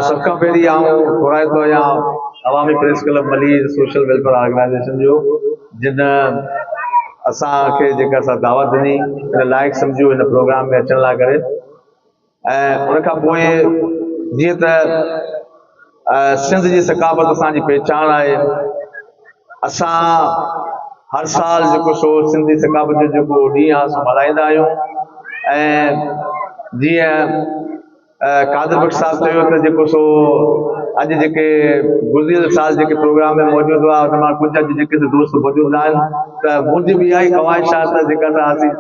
سڀ کان پهرين آئون ٿورائتو آهيان عوامي پريس ڪلب ملي سوشل ويلفيئر آرگنائيزيشن جو جن اسان کي جيڪا سا دعوت ڏني ان لائق سمجهيو ان پروگرام ۾ اچڻ لاء ڪري ۽ ان کان پوء جيئن ته سنڌ جي ثقافت اسان جي پهچان آهي اسان هر سال جيڪو سو سنڌي ثقافت جو جيڪو ڏينهن آهي سو ملهائيندا آهيون ۽ جيئن قادر بخش صاحب چيو ته جيڪو سو اڄ جيڪي گذريل سال جيڪي پروگرام ۾ موجود هئا ان مان ڪجهه اڄ جيڪي سو دوست موجود نه آهن ته منهنجي به اها ئي خواهش آهي ته جيڪا سا اسين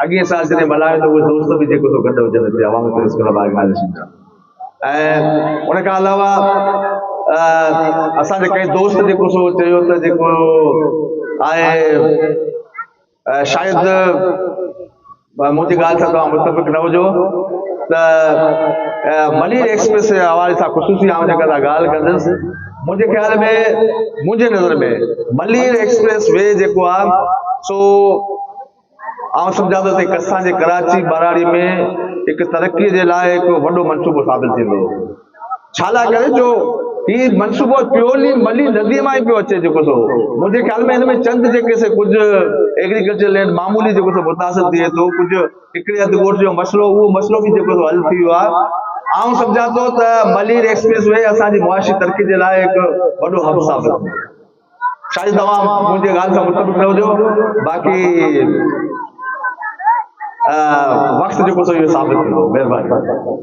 اڳئين سال جڏهن ملهايو ته اهي دوست به جيڪو سو گڏ هجن هتي عوامي پريس ڪلب آرگنائيزيشن جا ۽ ان کان علاوه اسان جي ڪئين دوست جيڪو سو چيو ته جيڪو آهي شايد مون جي ڳالهه سان توهان متفق نه هجو ته ملير ايڪسپريس جي حوالي سان خصوصي آئون جيڪا سا ڳالهه ڪندس منهنجي خيال ۾ منهنجي نظر ۾ ملير ايڪسپريس وي جيڪو آهي سو آئون سمجهان ٿو ته اسان جي ڪراچي ٻهراڙي ۾ هڪ ترقي جي لاء هڪ وڏو منصوبو ثابت ٿيندو ڇالاء ڪري جو هي منصوبو پيولي ملي نديء مان ئي پيو اچي جيڪو سو منهنجي خيال ۾ هن ۾ چند جيڪي سي ڪجهه ايگريڪلچر لينڊ معمولي جيڪو سو متاثر ٿئي ٿو ڪجهه هڪڙي اڌ ڳوٺ جو مسئلو اهو مسئلو به جيڪو سو حل ٿي ويو آهي آئون سمجهان ٿو ته ملير ايڪسپريس وي اسان جي معاشي ترقي جي لاء هڪ وڏو حب ثابت ٿيندو شايد توهان منهنجي ڳالهه سان متفق نه هجو باقي وقت جيڪو سو اهو ثابت ٿيندو مهرباني